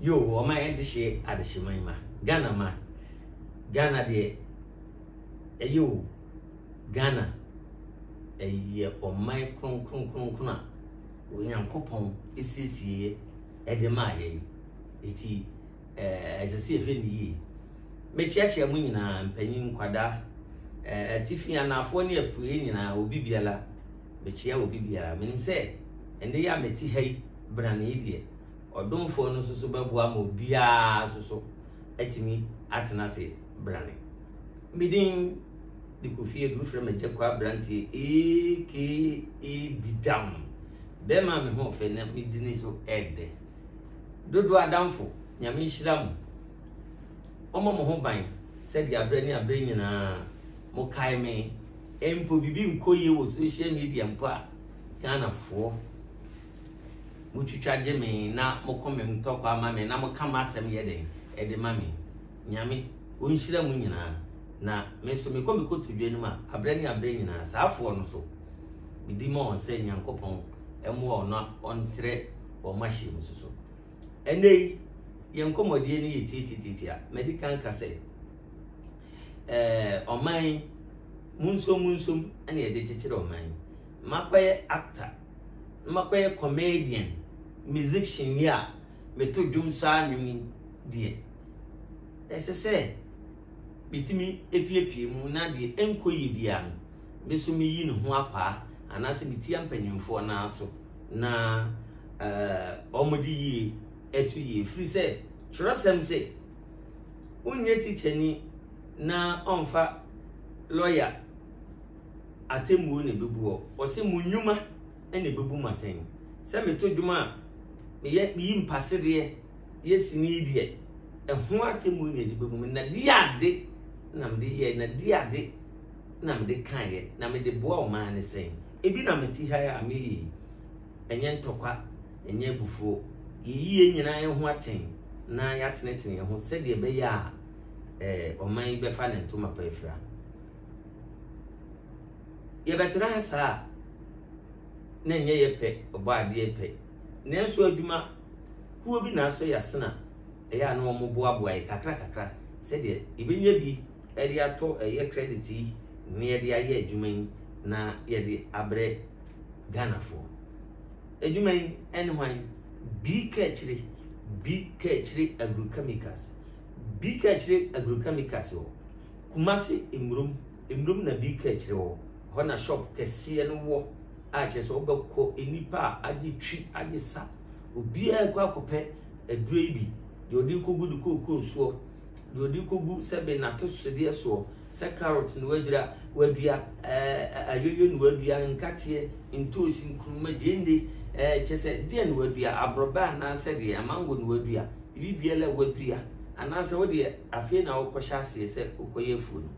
Yoo ɔman adehye adehye man ma Ghana ma Ghana deɛ ɛyɛ o Ghana ɛyɛ ɔman kronkron kronkron a Onyankopɔn esiesie ɛde maa yɛn eti ɛɛ ɛsɛ sɛ yɛhwɛ ne yie mekyiakyia mu nyinaa mpanyin nkwadaa ɛɛ atifi anaafoɔ ne apue nyinaa obi biara mekyia obi biara menim sɛ ɛnɛ yɛ a meti ha yi brane yi deɛ Ɔdomfoɔ no nso so bɛboa ma obiara nso so atumi atena ase brane. Me din de Kofi Adu, wofrɛ me Agya Kɔ Aberanteɛ aka Bidam. Bɛrima a me ho ɔfɛ na me dini so ɛdɛ. Dodo adamfo, Nyame nhyira mo. Ɔmmɔ mo ho ban sɛdeɛ aberɛ ne aberɛ nyinaa mokae me. Mpo biribi nkɔ yie wɔ social media mpo a, Ghanafoɔ Motwitwa gye me na mo komam tɔ kwa ma me na moka m'asɛm yɛ dɛn de ma me? Nyame, onhyira mo nyinaa. Na me nso, mekɔ me kotodwe anim a, aberɛ ne aberɛ nyinaa, saafoɔ no so, medi ma wɔn sɛ Nyankopɔn mmoa wɔn na ɔntrɛ wɔn mahyeɛ mu so so. Ɛnnɛ yi, yɛn nkɔmmɔdie no yɛ tiatitiati a, madi kan ka sɛ, eh, ɔman yi, munsom munsom ɛne ɛde kyekyere ɔman yi. Makɔyɛ actor. na makɔyɛ comedian, musician yi a meto dwom saa nnwom yi deɛ, ɛsɛ sɛ metumi epiepie mu na deɛ ɛnkɔ yie biara no, me nso meyi ne ho akwaa anaasɛ metia mpanimfoɔ no ara so na ɛɛ wɔde yie ɛto yie. Ɛfiri sɛ twerɛsɛm se, wonyɛ tikyani na ɔmfa lɔya. Atemmuo na ɛbɛbu hɔ. Ɔse, Mo nnwuma na ɛbɛbu mo atɛn. Sɛ meto dwom a, meyɛ, meyi mpasereɛ yɛ sini deɛ, ɛho atemmuo na ɛde bɛbu me. Na di ade na mede yɛɛ, na di ade na mede kaeɛ, na mede boa ɔman no sɛn? Ebi na mete ha yi a meyɛ yi, ɛnyɛ ntɔkwa, ɛnyɛ abufuo. Yɛyi yɛn nyinaa yɛn ho atɛn na yɛatenetene yɛn ho sɛdeɛ ɛbɛyɛ a ɛɛ ɔman yi bɛfa ne ntoma pa afira. Yɛbɛtena ha saa a, na ɛnyɛ yɛ pɛ, Ɔbɔadeɛ pɛ. Nanso adwuma kuo bi na asɔ yɛ asena, ɛyɛ a na wɔboaboa yɛ kakra kakra sɛdeɛ yɛbɛnya bi de atɔ ɛyɛ credit yi na yɛde ayɛ adwuma yi na yɛde abrɛ Ghanafoɔ. Adwuma yi ɛne hwan? Bi Kakyire, Bi Kakyire Agrochemicals. Bi Kakyire Agrochemicals hɔ. Kumase mmrom mmrom na bi ka akyire hɔ, hɔ na shop kɛseɛ no wɔ a kyerɛ sɛ wobɛkɔ nnipa a agye twi agye sa obiara rekɔ akɔpɛ aduro yi bi deɛ ɔde rekɔgu ne kookoo soɔ deɛ ɔde rekɔgu sɛ be n'atosodeɛ soɔ sɛ carrot na wadura wadua ɛɛ ayoyo na wadua nkateɛ ntoosi nkuruma gyende ɛɛ kyerɛ sɛ deɛ na wadua aborɔbɛ anaasɛ deɛ amango na wadua biribiara wadua anaasɛ wodeɛ Afei na wokɔhyɛ aseɛ sɛ wokɔyɛ afuo no.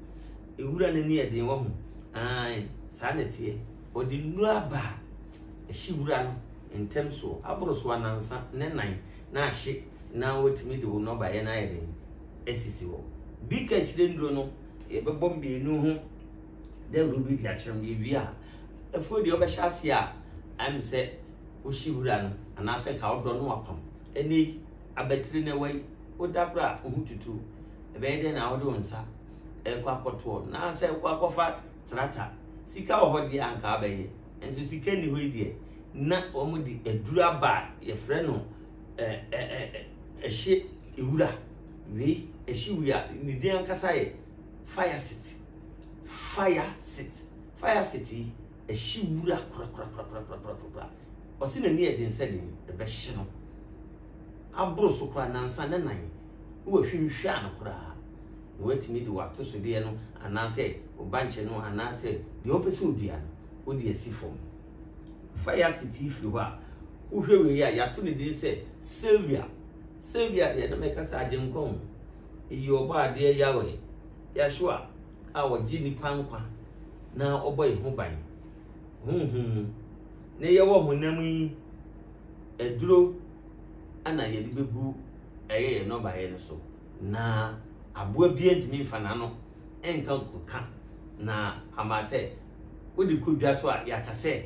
Nwura no ani yɛ den, wahu? Aane, saa na ɛteɛ. Ɔde nnuro aba a, ɛhye wura no ntɛm soɔ, aboro so anansa ne nan na ahye na watumi de wo nnɔbaeɛ no ayɛ den asisi hɔ. Bi ka akyire nnuro no, yɛbɛbɔ mmienu ho dawuro bi de akyerɛ no. Yɛwie a, afuo deɛ wobɛhyɛ aseɛ a, ayɛ me sɛ wohye wura no anaasɛ nka wodɔ no apam. Ɛnnɛ yi, Abatiri na ɛwɔ yi, woda koro a, wo ho tutu wo. Ɛbɛyɛ dɛn na wode wo nsa rekɔ akɔtoɔ anaasɛ wokɔ akɔfa trata? Sika wɔ hɔ deɛ a anka wobɛyɛ, nanso sika nni hɔ yi deɛ, na wɔde aduru aba a yɛfrɛ no ɛ ɛ ɛ ɛhye ewura wei ɛhye wura ne din ankasa yɛ fire city fire city fire city yi ɛhye wura korakorakorakorakorakorakorakora. Ɔse n'ani yɛ den sɛ den, ɛbɛhye no. Aboro so koraa, nansa ne nan, ne wahwim hwɛa no koraa. Na watumi de w'atosodeɛ no anaasɛ wo bankye no anaasɛ deɛ ɔpɛ sɛ ɔdua no, wode asi fam. Fa yɛ asetie firi hɔ a, wohwɛ wei a, yɛato ne din sɛ Sylvia. Sylvia deɛ na mɛka sɛ agyenkwa o. Eyi ɔbɔ adeɛ Yahweh, Yahshua. a ɔgye nnipa nkwa na ɔbɔ yɛn ho ban honhom mu. Ne yɛwɔ honam yi aduro na yɛde bɛgu ɛyɛ yɛn nnɔbaeɛ no so na aboa biara ntumi mfa n'ano nka nkoka na ama sɛ wode kɔ dwa so a yɛaka sɛ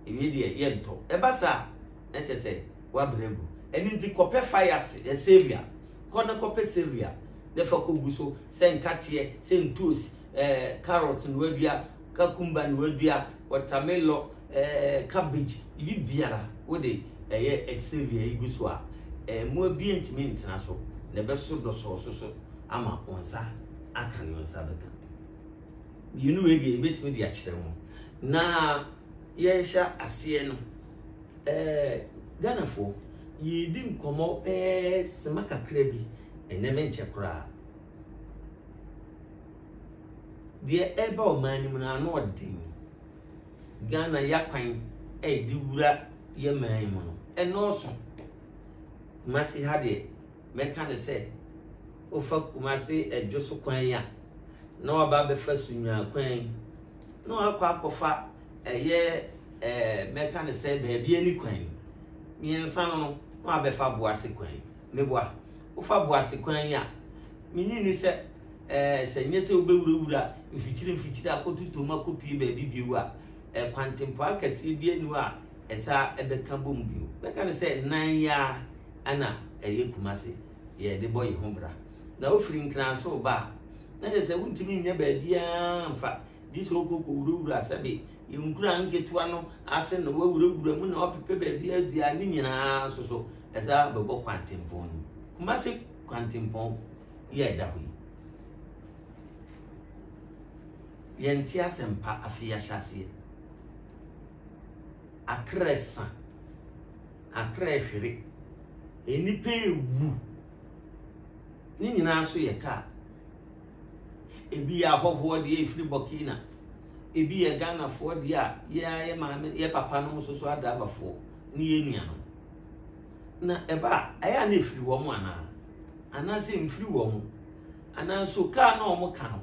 ɛwie deɛ yɛntɔ ɛba saa na kyerɛ sɛ woabrɛ gu ɛno nti kɔpɛ fa yɛase savia kɔ na kɔpɛ savia na fa kɔgu so sɛ nkateɛ, sɛ ntuos, eh, carrot no adua, kakumba no adua, wɔtamelɔ, eh, cabbage, ibi biara wode ɛyɛ ɛsɛli a igu so a, eh, mmoa bi ntumi ntena so na ɛbɛso dɔsɔɔ so so ama wɔn nsa aka ne wɔn nsa bɛka. Mmienu wei deɛ ebetumi de akyerɛ ho. Na yɛhyɛ aseɛ no, eh, Ghanafoɔ, yɛredi nkɔmmɔ bɛɛ sima kakra bi Ɛnnɛ ne nkyɛ koraa. Deɛ ɛreba ɔman no mu no ano ɔden. Ghana yakwan a yɛde wura yɛ man yi mu no ɛnɔɔso. Kumasi ha deɛ mɛka ne sɛ wofa Kumasi ɛdwo so kwan yi a na waba abɛfa Sunnwaa kwan yi na wakɔ akɔfa ɛyɛ ɛɛ mɛka ne sɛ baabi ani kwan yi mmiɛnsa no no na wabɛfa Boase kwan yi. Meboa. Wofa Boase kwan yi a, minnye nni sɛ ɛɛ sɛ ɛnyɛ sɛ wobewurawura mfikyiri mfikyiri akoto tom akopue baabi bio a, ɛɛ kwantempɔn akɛseɛ biara nni hɔ a ɛsaa ɛbɛka bom bio. Mɛka no sɛ nan yi ara na ɛyɛ Kumase yɛde bɔ yɛn ho bra. Na wofiri Nkrans reba a, na kyerɛ sɛ wontumi nnya baabiara mfa gye sɛ wokɔ kɔwurawura sɛbe Nwura nketewa no ase na wɔawurawura mu na wɔapepɛ baabi adzi a, ne nyinaa nso so ɛdze abɛbɔ kwantempɔn no mu. Kumase kwantempɔn yi a ɛda hɔ yi, yɛnte asɛmpa afei ahyɛ aseɛ. Akra sa, akra hwere, nnipa ewu. Ne nyinaa so yɛ kaa. Ebi yɛ ahɔhoɔ deɛ ɛfiri Burkina. Ebi yɛ Ghanafoɔ deɛ a yɛa yɛ maame yɛ papa nom nso so adrabafoɔ ne yɛ nuanom. Na ɛba a ɛyɛ a na ɛfiri wɔn anaa? Anaasɛ mfiri wɔn? Ananso kaa na wɔn ka no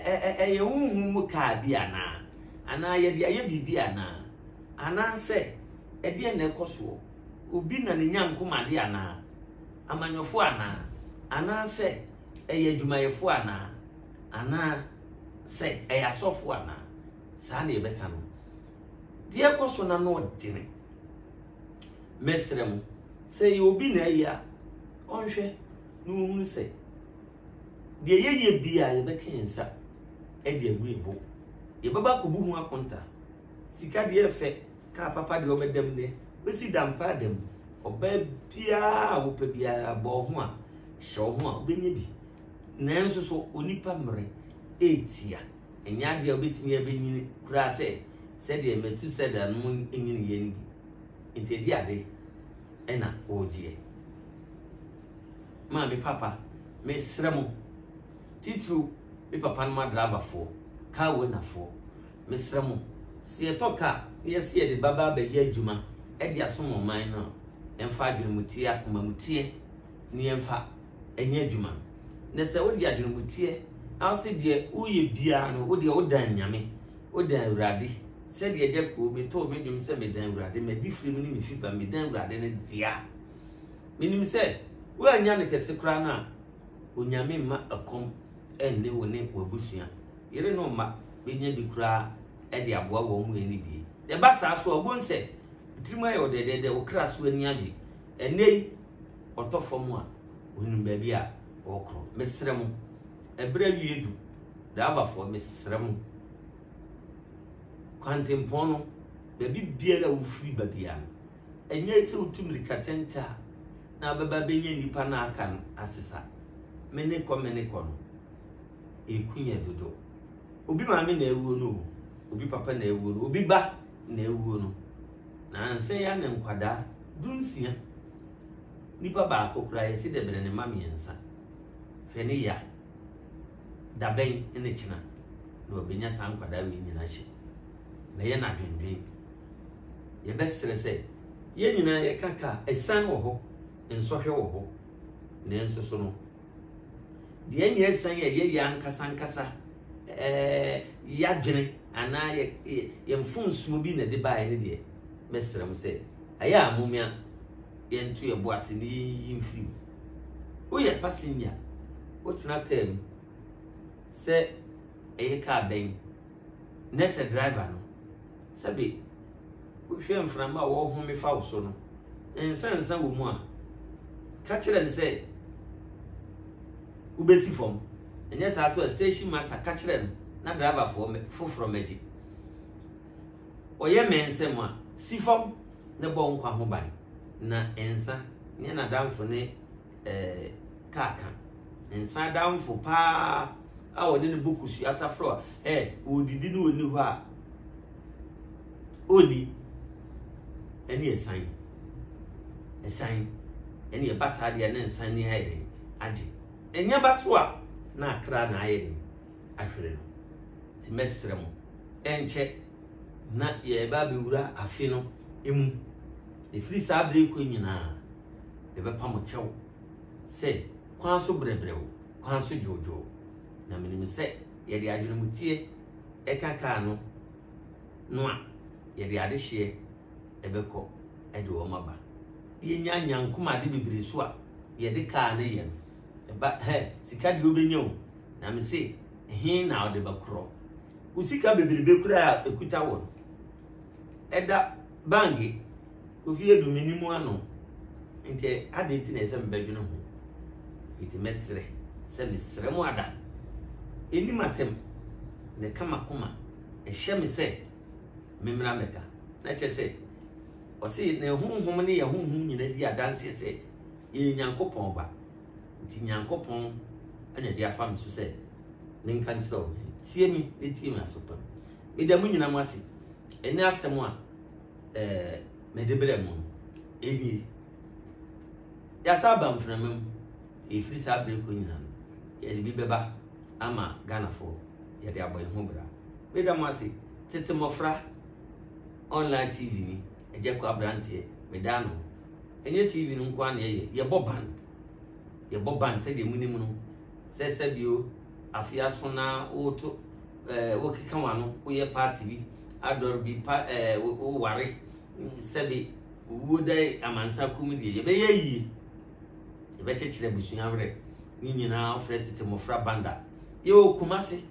ɛyɛ honhom mu kaa bi anaa? Anaa yɛde ayɛ biribi anaa? Anaasɛ ɛdeɛ na ɛkɔ soɔ? Obi na ne nyankomadeɛ anaa? amanyɔfoɔ anaa? Anaa sɛ ɛyɛ adwumayɛfoɔ anaa? Anaa sɛ ɛyɛ asɔfoɔ anaa? Saa na yɛbɛka no. Deɛ ɛkɔ so na na ɔdene. Mɛsrɛ mo, sɛ ɛyɛ obi na ɛyɛ a, ɔnhwɛ na ɔhunu sɛ deɛ yɛyɛ bi a yɛbɛka yɛn nsa de agu yɛn bo. Yɛbɛba akɔbu ho akonta. Sika deɛ ɛfɛ, kaa papa deɛ ɔbɛdam deɛ, bɛsi dampaa dam. Ɔbaa biara a wopɛ biara bɔ wo ho a, hyɛ wo ho a, wobɛnya bi. Nanso so onipa mmerɛ ɛretia? Ɛnyɛ adeɛ a wobɛtumi abɛnyini koraa sɛ sɛdeɛ Metusela no nyiniiɛ no bi. Nti ɛde ade ɛna wɔregyeɛ. Maa me papa, mesrɛ mo, titiriw me papa no ma driverfoɔ, car ownerfoɔ, Mesrɛ mo, sɛ yɛtɔ kaa na yɛse yɛde bɛba abɛyɛ adwuma de asom ɔman no a, ɛmfa adwenemuteɛ, akomamuteɛ ne yɛmfa nyɛ adwuma no. Na sɛ wode adwenemuteɛ na wose deɛ woyɛ biara no, wodeɛ wodan Nyame, wodan Awurade, sɛdeɛ agya kuo metoo me dwom sɛ medan Awurade, m'adifire mu ne me fiba medan Awurade no deɛ a, menim sɛ woannya no kɛse koraa no a, Onyame mma ɛkɔm nne wo ne w'abusua. yere no mma bɛnya bi koraa de aboa wɔn mu ani bue. Deɛ ɛba saa so a, wobɛhu sɛ tirim ayɛ wo dɛdɛɛdɛ, wo kra so ani agye. Ɛnnɛ yi, ɔtɔ fam a, ɔnim baabi a ɔrekorɔ. Mesrɛ mo, ɛberɛ awie du, driverfoɔ, mesrɛ mo, kwantempɔn no, baabi biara a wofiri ba biara no, ɛnyɛ sɛ wotu mmirika tente a na wobɛba bɛnya nnipa no aka no asesa. Mene kɔ mene kɔ no. eku yɛ dodo. Obi maame na awuo no o, obi papa na awuo no, obi ba na awuo no. Na ansɛ ya ne nkwadaa dunsia. Nipa baako koraa yɛsi dɛ bɛrɛ ne mma mmiɛnsa. Hwɛ ne ya. Dabɛn ne kyena na wabɛnya saa nkwadaa wei nyina hyɛ. Bɛyɛ no adwendwen. Yɛbɛsrɛ sɛ yɛn nyinaa yɛka ka a, asiane wɔ hɔ, nsɔhwɛ wɔ hɔ. Nanso so no, Deɛ ɛnyɛ asiane yɛ yɛyɛ ankasa ankasa ɛɛ yɛadwene anaa yɛ yɛ mfomsoɔ bi na ɛde baeɛ ne deɛ mɛsrɛ mo sɛ ɛyɛ a momia yɛnto yɛ bo ase ne yɛnyi mfiri mu. Woyɛ passenger wotena kaa mu sɛ ɛyɛ kaa bɛn Nnɛ sɛ driver no, sɛbe wohwɛ mframa a wɔrehome fa wo so no, nsansa wɔ mu a, ka kyerɛ no sɛ wobɛsi fam. Ɛnyɛ saa so a, station master ka kyerɛ no na driver foforɔ mmɛgye. Ɔyɛ mmɛnsɛm a, si fam na bɔ nkwa ho ban, na nsa nyɛ n'adamfo ne eh, kaka. Nsa damfo paa a ɔne ne bɔ kusu ataforo a eh, ɔredidi no ɔni hɔ a ɔni ɛne ɛsan ɛsan ɛne ɛba saa deɛ ne nsa ni ayɛ den agye ɛnyɛ ba so a na akra na ayɛ den ahwere no nti mɛsrɛ mo ɛnkyɛ na yɛba bɛwura afe no mu ɛfiri saa bere kɔ nyinaa Yɛbɛpa mo kyɛw sɛ kwan so brɛbrɛw, kwan so dwoodwoo. Na minim sɛ yɛde adwenemteɛ ka kaa no no a, yɛde adehyeɛ bɛkɔ de wɔn aba. Yɛnya nyankom ade bebree so a, yɛde kaa no yɛ no. Ɛba hɛ, sika deɛ wobɛnya o, na mese he na ɔde bɛkorɔ? Wo sika bebrebe koraa a ɛkuta wo no, ɛda Bangye, Kofi Adu mennim ano nti adɛn nti na ɛsɛ sɛ mebɛdwene ho? Enti mɛsrɛ sɛ mesrɛ mo ada. Ɛnim atɛm na ɛka m'akoma ɛhyɛ me sɛ memmra mmɛka. Na kyerɛ sɛ ɔse ne honhom ne yɛn honhom nyinaa di adanseɛ sɛ yɛyɛ Nyankopɔn ba. Nti Nyankopɔn na ɛde afa me so sɛ menka nkyerɛ wo. Tie me na tie me aso pa. Meda mo nyinaa mo ase. ɛne asɛm a ɛɛ mede brɛ mo no ɛnie yɛasa aba mframa mu ɛfiri saa berɛ kɔ nyina no yɛde bi bɛba ama ghanafoɔ yɛde abɔ yɛn ho bra meda mo ase tete mmɔfra online tv ni ɛgyɛ kɔ aberanteɛ meda no ɛnyɛ tv no nko a na yɛyɛ yɛbɔ band Yɛbɔ ban sɛdeɛ monim no, sɛ sɛbio afe aso na woto ɛɛ eh, wokeka w'ano, woyɛ paati bi, adɔre bi, pa ɛɛ eh, woware, sɛbe owuo da amansa kum deɛ, yɛbɛyɛ yie. Yɛbɛkyekyere abusua werɛ. Ne nyinaa wofrɛ tete mmɔfra banda. Yɛwɔ Kumase,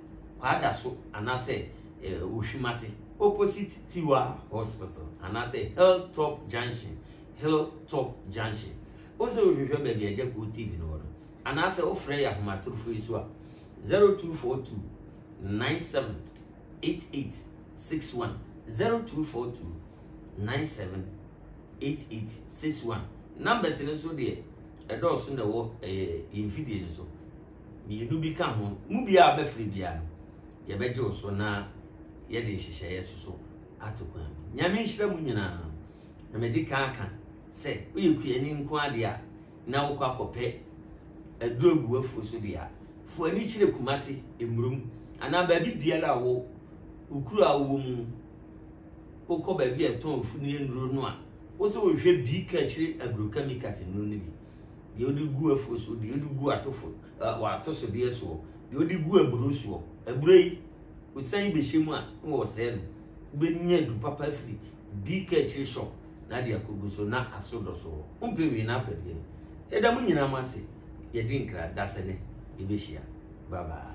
Kwada so, anaasɛ eh, Ohwimase, opposite Tiwa Hospital, anaasɛ Hilltop Junction, Hilltop Junction. Wo so rohwehwɛ baabi a Agya Kuo TV no wɔ no? Anaasɛ wofrɛ yɛn ahomatorofo yi so a, 0242 97 8861, 0242 97 8861. Numbers no nso deɛ ɛdɔɔso na ɛwɔ ɛyɛ yɛn mfidie no so. Mmienu bi ka ho, mu biara bɛfiri biara no, yɛbɛgye wo so na yɛde nhyehyɛeɛ soso ato kwan mu. Nyame nhyira mu nyinaa. na madi kan aka sɛ woyɛ kuani nko ara deɛ a, na wokɔ akɔpɛ aduro agu afuo so deɛ a, fo ani kyerɛ Kumase, Mmurum anaa baabi biara a wo wo kuro a wowɔ mu wokɔ baabi a ɛtɔn funu nnuro no a wo sɛ wohwɛ bi ka akyire agrochemicals nnuro no bi deɛ wode gu afuo so deɛ wode gu atofo wɔato so deɛ soɔ deɛ wode gu aburo soɔ aburo yi wosan bɛhyɛ mu a na wɔsɛe no wobɛnya du papa afiri Bi kɛ akyire shop na de akogu so na aso dɔ so hɔ wompɛ wei na apɛ deɛ yɛda mo nyinaa mo ase yɛdi nkra dasɛ nɛ yɛbɛhyia bye bye.